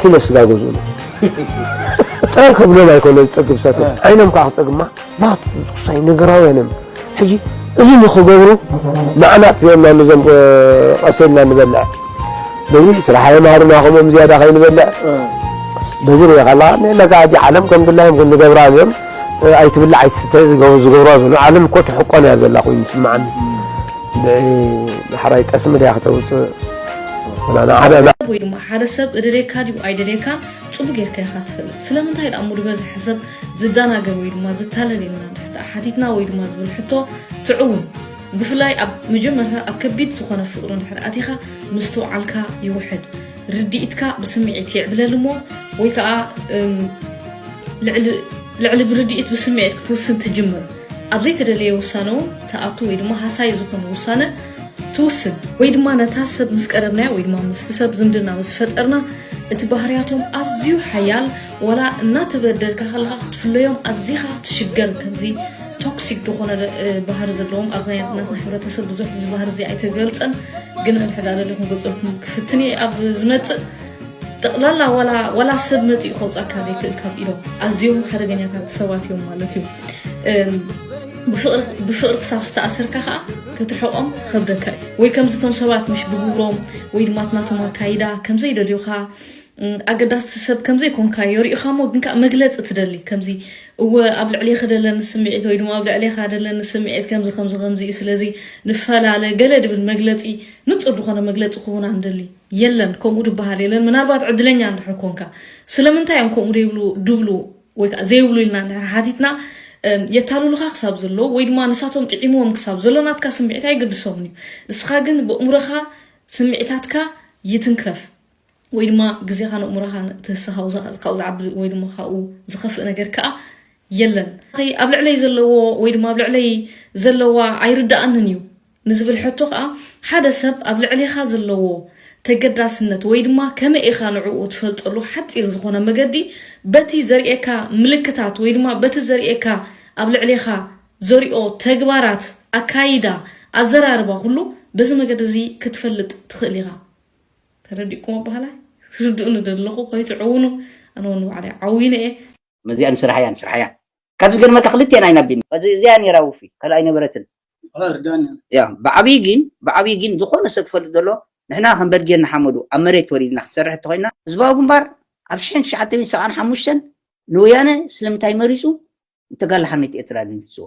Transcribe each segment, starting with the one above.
ኪሎ ስጋ ገዝኡሉ ጥራይ ከብሎም ኣይኮነ ዝፀግብ ሰቶ ዓይኖም ከዓ ክፀግማ ማት ሳይ ነገራውያን እዮም ሕጂ እዚ ንክገብሩ ንዓና ጥፍዮና ንዞም ቀሴልና ንበልዕ በዚ ስራሕ የምሃሩና ከምኦም ዝያዳ ከይንበልዕ በዚ ሪኢኻ ኣለኻ ንላ ከዓ ሕጂ ዓለም ከም ድላዮም ክንገብራ እዮም ኣይትብላዕ ኣይትስተ ዝገብሮ ዘሎ ዓለም እኮ ትሕቆን እያ ዘላ ኮይኑ ይስምዓኒ ብዳሕራይ ጠስሚ ድያ ክተውፅእ ሰብ ወይ ድማ ሓደ ሰብ እደልየካ ድዩ ኣይደልየካን ጽቡቅ ጌርካ ኢኻ ትፈልጥ ስለምንታይ ደኣ እሞ ዝበዝሐ ሰብ ዝደናገር ወይ ድማ ዝታለል ኢልና እንድሕር ደኣ ሓቲትና ወይ ድማ ዝብል ሕቶ ትዕውን ብፍላይ ኣብ መጀመርታ ኣብ ከቢድ ዝኾነ ፍቅሪ እንድሕር ኣቲኻ ምስትውዓልካ ይውሕድ ርድኢትካ ብስምዒት ይዕብለል እሞ ወይ ከዓ ልዕሊ ብርድኢት ብስምዒት ክትውስን ትጅምር ኣብ ዘይተደለየ ውሳነ እውን ትኣቱ ወይ ድማ ሃሳዪ ዝኾነ ውሳነ ትውስን ወይ ድማ ነታ ሰብ ምስ ቀረብናያ ወይ ድማ ምስቲ ሰብ ዝምድና ምስ ፈጠርና እቲ ባህርያቶም ኣዝዩ ሓያል ወላ እናተበደልካ ከለካ ክትፍለዮም ኣዚኻ ትሽገር ከምዚ ቶክሲክ ዝኾነ ባህሪ ዘለዎም ኣብ ናትና ሕብረተሰብ ብዙሕ እዚ ባህሪ እዚ ኣይተገልፀን ግን እንሕዳለለ ክንገልፀልኩም ክፍትን እየ ኣብ ዝመፅእ ጠቕላላ ዋላ ሰብ መፂኡ ከውፃካ ዘይክእል ካብ ኢሎም ኣዝዮም ሓደገኛታት ሰባት እዮም ማለት እዩ ብፍቕሪ ክሳብ ዝተኣሰርካ ከዓ ክትርሕቆም ክከብደካ እዩ ወይ ከምዚ እቶም ሰባት ምሽ ብግብሮም ወይ ድማ እቲ ናቶም ኣካይዳ ከምዘይደልዩካ ኣገዳሲ ሰብ ከምዘይኮንካ የርእዩካ እሞ ግን ከዓ መግለፂ ትደሊ ከምዚ እወ ኣብ ልዕሌኺ ደለኒ ስምዒት ወይ ድማ ኣብ ልዕሌኻ ደለኒ ስምዒት ከምዚ ከምዚ ከምዚ እዩ ስለዚ ንፈላለ ገለ ድብል መግለፂ ንፁር ዝኾነ መግለፂ ክቡና ንደሊ የለን ከምኡ ድበሃል የለን ምናልባት ዕድለኛ እንድሕር ኮንካ ስለምንታይ እዮም ከምኡ ደይብሉ ድብሉ ወይ ከዓ ዘይብሉ ኢልና እንድሕር ሓቲትና የታልሉኻ ክሳብ ዘለዎ ወይ ድማ ንሳቶም ጥዒምዎም ክሳብ ዘሎ ናትካ ስምዒት ኣይገድሶምን እዩ ንስኻ ግን ብእምሮኻ ስምዒታትካ ይትንከፍ ወይ ድማ ግዜኻን ኣእምሮኻን ትህሰ ካብኡ ዝዓቢ ወይ ድማ ካብኡ ዝኸፍእ ነገር ከዓ የለን ኣብ ልዕለይ ዘለዎ ወይ ድማ ኣብ ልዕለይ ዘለዋ ኣይርዳእንን እዩ ንዝብል ሕቶ ከኣ ሓደ ሰብ ኣብ ልዕሌኻ ዘለዎ ተገዳስነት ወይ ድማ ከመይ ኢኻ ንዕኡ ትፈልጠሉ ሓጺር ዝኾነ መገዲ በቲ ዘርእየካ ምልክታት ወይ ድማ በቲ ዘርእየካ ኣብ ልዕሌኻ ዘርኦ ተግባራት፣ ኣካይዳ፣ ኣዘራርባ ኩሉ በዚ መገዲ እዚ ክትፈልጥ ትኽእል ኢኻ። ተረዲእኩም ኣባህላይ? ክትርድኡኒ ዶ ኣለኹ? ከይትዕውኑ ኣነ ውን ንባዕለይ ዓዊነ እየ። መዚኣ ንስርሓያ ንስርሓያ ካብ ዝገርመካ ክልቴን ኣይናቢን ከዚ እዚኣ ኔራ ውፊ ካልእ ኣይነበረትን ያ ብዓብይ ጊን ብዓብይ ጊን ዝኾነ ሰብ ክፈልጥ ዘሎ ንሕና ከም በርጌድ ንሓመዱ ኣብ መሬት ወሪድና ክትሰርሕ እንተኾይና ህዝባዊ ግንባር ኣብ ሽሕን ትሽዓተን ሰብዓን ሓሙሽተን ንወያነ ስለምንታይ መሪጹ ንተጋላሓነት ኤርትራ ድምጽዎ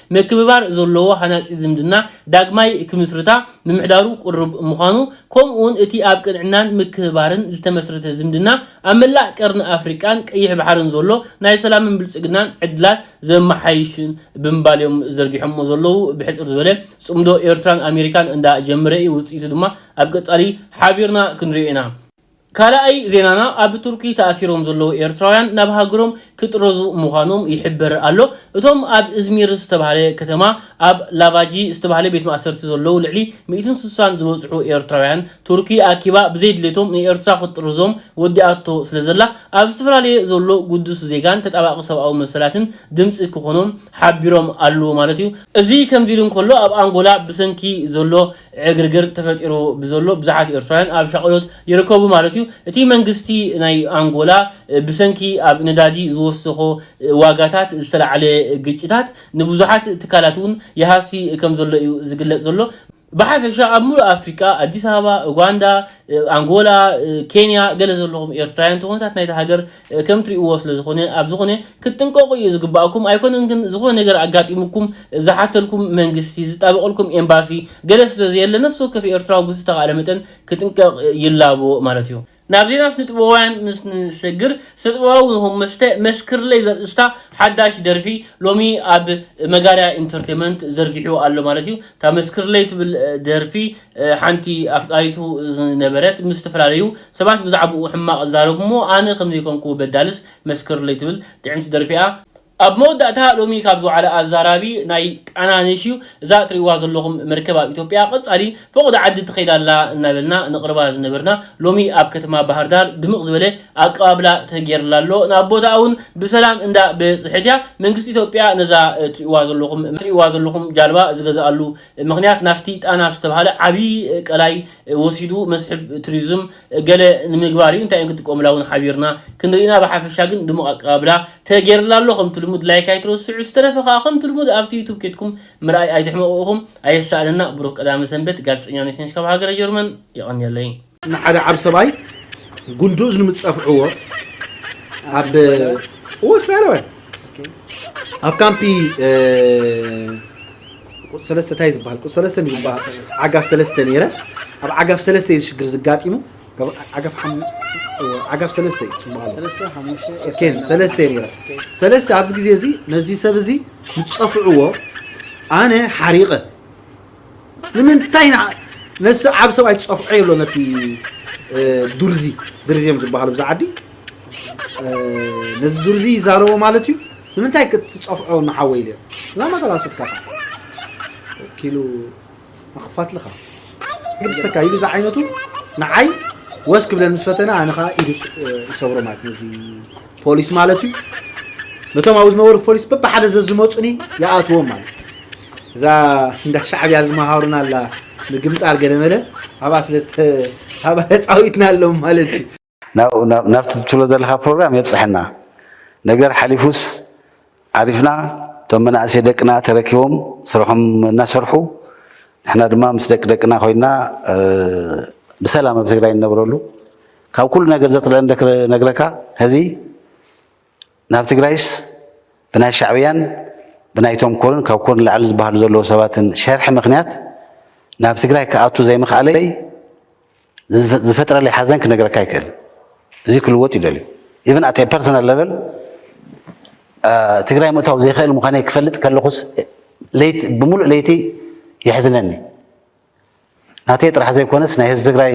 ምክብባር ዘለዎ ሃናጺ ዝምድና ዳግማይ ክምስርታ ምምሕዳሩ ቅሩብ ምዃኑ፣ ከምኡ'ውን እቲ ኣብ ቅንዕናን ምክብባርን ዝተመስረተ ዝምድና ኣብ መላእ ቀርኒ ኣፍሪቃን ቀይሕ ባሕርን ዘሎ ናይ ሰላምን ብልጽግናን ዕድላት ዘመሓይሽን ብምባል'ዮም ዘርጊሖምዎ ዘለዉ። ብሕጽር ዝበለ ጽምዶ ኤርትራን ኣሜሪካን እንዳ ጀመረ'ዩ፣ ውጽኢቱ ድማ ኣብ ቀጻሊ ሓቢርና ክንሪኦ ኢና። ካልኣይ ዜናና ኣብ ቱርኪ ተኣሲሮም ዘለዉ ኤርትራውያን ናብ ሃገሮም ክጥረዙ ምዃኖም ይሕበር ኣሎ። እቶም ኣብ እዝሚር ዝተባህለ ከተማ ኣብ ላቫጂ ዝተባህለ ቤት ማእሰርቲ ዘለዉ ልዕሊ ሚእትን ስሳን ዝበጽሑ ኤርትራውያን ቱርኪ ኣኪባ ብዘይድሌቶም ንኤርትራ ክትጥርዞም ወዲኣቶ ስለዘላ ኣብ ዝተፈላለየ ዘሎ ግዱስ ዜጋን ተጣባቂ ሰብኣዊ መሰላትን ድምጺ ክኾኖም ሓቢሮም ኣለዉ ማለት እዩ። እዚ ከምዚሉ እንከሎ ኣብ ኣንጎላ ብሰንኪ ዘሎ ዕግርግር ተፈጢሩ ብዘሎ ብዙሓት ኤርትራውያን ኣብ ሻቕሎት ይርከቡ ማለት እዩ። እቲ መንግስቲ ናይ ኣንጎላ ብሰንኪ ኣብ ነዳዲ ዝወሰኾ ዋጋታት ዝተላዕለ ግጭታት ንብዙሓት ትካላት እውን ይሃሲ ከምዘሎ እዩ ዝግለጽ ዘሎ። ብሓፈሻ ኣብ ምሉእ ኣፍሪቃ፣ ኣዲስ ኣበባ፣ ኡጋንዳ፣ ኣንጎላ፣ ኬንያ ገለ ዘለኹም ኤርትራውያን እቲ ኩነታት ናይታ ሃገር ከም ትሪእዎ ስለ ዝኮነ ኣብ ዝኮነ ክትጥንቀቁ እዩ ዝግባኣኩም ኣይኮነን ግን ዝኮነ ነገር ኣጋጢሙኩም ዝሓተልኩም መንግስቲ ዝጣበቀልኩም ኤምባሲ ገለ ስለ ዘየለ ነፍሲ ወከፍ ኤርትራዊ ብዝተካእለ መጠን ክጥንቀቅ ይላቦ ማለት እዩ። ናብ ዜና ስነጥበባውያን ምስ ንሰግር፣ ስነጥበባዊ ኑህ መስተ መስክርለይ ዘርእስታ ሓዳሽ ደርፊ ሎሚ ኣብ መጋርያ ኢንተርቴመንት ዘርጊሑ ኣሎ ማለት እዩ። እታ መስክርለይ ትብል ደርፊ ሓንቲ ኣፍቃሪቱ ዝነበረት ምስ ዝተፈላለዩ ሰባት ብዛዕብኡ ሕማቕ እዛረብ'ሞ ኣነ ከም ዘይኮንኩ በዳልስ መስክርለይ ትብል ጥዕምቲ ደርፊ'ያ። ኣብ መወዳእታ ሎሚ ካብ ዝወዓለ ኣዛራቢ ናይ ቃና ነሽ'ዩ። እዛ እትርእይዋ ዘለኹም መርከብ ኣብ ኢትዮጵያ ቀጻሊ ፈቖዶ ዓዲ ትኸይድ ኣላ እናበልና ነቕርባ ዝነበርና ሎሚ ኣብ ከተማ ባህርዳር ድምቕ ዝበለ ኣቀባብላ ተጌርላ ኣሎ። ናብ ቦታኣ'ውን ብሰላም እንዳ በጽሐት'ያ። መንግስቲ ኢትዮጵያ ነዛ እትርእይዋ ዘለኹም ጃልባ ዝገዝኣሉ ምኽንያት ናፍቲ ጣና ዝተብሃለ ዓብዪ ቀላይ ወሲዱ መስሕብ ቱሪዝም ገለ ንምግባር እዩ እንታይ ክጥቀሙላ እውን ሓቢርና ክንርኢ ኢና ብሓፈሻ ግን ድሙቕ ኣቀባብላ ተገይርላ ኣሎ ከምቲ ልሙድ ላይክ ኣይትረስዑ ዝተረፈ ከዓ ከምቲ ልሙድ ኣብቲ ዩቱብ ኬድኩም ምርኣይ ኣይትሕመቑ ኢኹም ኣየሳእነና ብሩኽ ቀዳመ ሰንበት ጋዜጠኛ ነሽነሽ ካብ ሃገረ ጀርመን የቐንየለይ። ንሓደ ዓብ ሰብኣይ ጉንዲ እዝኑ ምስ ጸፍዕዎ ኣብ እስራኤላውያን ኣብ ካምፒ ቁፅ ሰለስተ እንታይ ዝበሃል ቁፅ ሰለስተ ዝበሃል ዓጋፍ ሰለስተ ነይረ ኣብ ዓጋፍ ሰለስተ እዩ ዝሽግር ዝጋጢሙ ዓጋፍ ዓጋፍ ሰለስተ እዩ ፅቡቅ ኣሎ ሰለስተ ነይረ ሰለስተ ኣብዚ ግዜ እዚ ነዚ ሰብ እዚ ዝፀፍዕዎ ኣነ ሓሪቐ ንምንታይ ንዓ ነዚ ዓቢ ሰብኣይ ትጸፍዖ የሎ ነቲ ዱርዚ ድርዚ እዮም ዝበሃሉ ብዛ ዓዲ ነዚ ዱርዚ ይዛረቦ ማለት እዩ ንምንታይ ክትጸፍዖ ንሓወይ ኢለ እዛ መተላሶትካ ኸ ወኪሉ ኣኽፋትልኻ ግድሰካ ኢሉ ዝዓይነቱ ንዓይ ወስ ክብለን ምስ ፈተነ ኣነ ከዓ ኢዱ ይሰብሮ ማለት ነዚ ፖሊስ ማለት እዩ ነቶም ኣብኡ ዝነበሩ ፖሊስ በብሓደ ዘዝመፁኒ ይኣትዎም ማለት እዩ እዛ እንዳ ሻዕብያ ዝመሃሩና ኣላ ምግምጣር ገለመለ ኣብኣ ስለ ኣብኣ ተፃዊትና ኣሎም ማለት እዩ ናብቲ ትብሎ ዘለካ ፕሮግራም የብፅሐና ነገር ሓሊፉስ ዓሪፍና እቶም መናእሰይ ደቅና ተረኪቦም ስርሖም እናሰርሑ ንሕና ድማ ምስ ደቂ ደቅና ኮይና ብሰላም ኣብ ትግራይ እንነብረሉ ካብ ኩሉ ነገር ዘጽልእን ክነግረካ ሕዚ ናብ ትግራይስ ብናይ ሻዕብያን ብናይቶም ኮርን ካብ ኮርን ላዕሊ ዝበሃሉ ዘለዎ ሰባትን ሸርሒ ምክንያት ናብ ትግራይ ክኣቱ ዘይምክኣለይ ዝፈጥረለይ ሓዘን ክነግረካ ይክእል እዚ ክልወጥ ይደልዩ ኢቨን ኣት ፐርሰናል ለቨል ትግራይ ምእታው ዘይክእል ምዃነይ ክፈልጥ ከለኹስ ለይቲ ብምሉእ ለይቲ የሕዝነኒ ናተይ ጥራሕ ዘይኮነስ ናይ ህዝቢ ትግራይ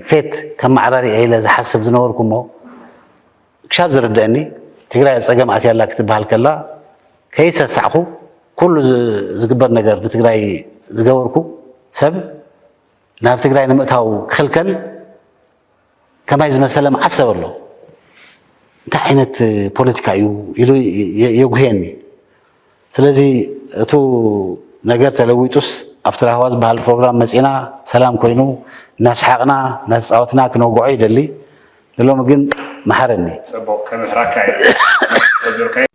ፌት ከመዓራሪ እየ ኢለ ዝሓስብ ዝነበርኩ እሞ ክሻብ ዝርደኣኒ ትግራይ ኣብ ፀገም ኣትያ ኣላ ክትበሃል ከላ ከይሰሳዕኹ ኩሉ ዝግበር ነገር ንትግራይ ዝገበርኩ ሰብ ናብ ትግራይ ንምእታው ክኽልከል ከማይ ዝመሰለ መዓት ሰብ ኣሎ እንታይ ዓይነት ፖለቲካ እዩ ኢሉ የጉህየኒ። ስለዚ እቱ ነገር ተለዊጡስ ኣብቲ ራህዋ ዝበሃል ፕሮግራም መፂና ሰላም ኮይኑ እናስሓቕና እናተፃወትና ክነውግዖ ይደሊ ንሎሚ ግን መሓረኒ። ፅቡቕ ከምሕራካ እየ።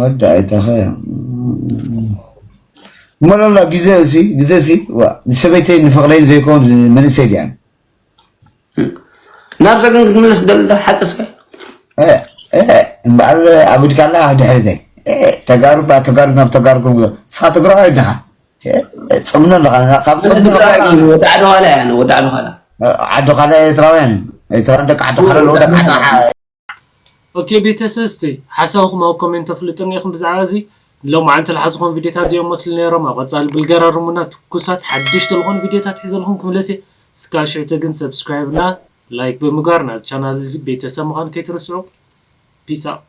ወዲ ኣይተኸ እሞሎላ ግዜ እሲ ግዜ እሲ ንሰበይተይ ንፍቕረይን ዘይኮን መንእሰይ ድያን ናብዛ ግን ክትምለስ ደሎ ሓቂ ስከ እምበኣር ኣብ ድካ ኣላ ድሕሪተይ ተጋሩ ተጋሩ ናብ ተጋሩኩም ንስኻ ትግራዋይ ድኻ ፅምኖ ኣለኻ ካብ ወዲ ዓዲ ኋላ እያ ወዲ ዓዲ ኋላ ዓዲ ኋላ ኤርትራውያን ኤርትራውያን ደቂ ዓዲ ኋላ ደቂ ዓዲ ኦኬ ቤተሰብ እስቲ ሓሳብኩም ኣብ ኮሜንት ኣፍልጡኒ ኢኩም ብዛዕባ እዚ ሎምዓንቲ ልሓዝኮም ቪድዮታት እዚኦም መስሉ ነይሮም ኣብ ቐፃሊ ብልገራርሙና ትኩሳት ሓድሽቲ ልኮኑ ቪድዮታት ሒዘልኩም ክምለስ እየ እስካብ ሽዑቲ ግን subscribe እና like ብምግባር ናዚ ቻናል እዚ ቤተሰብ ምካን ከይትርስዑ peace out።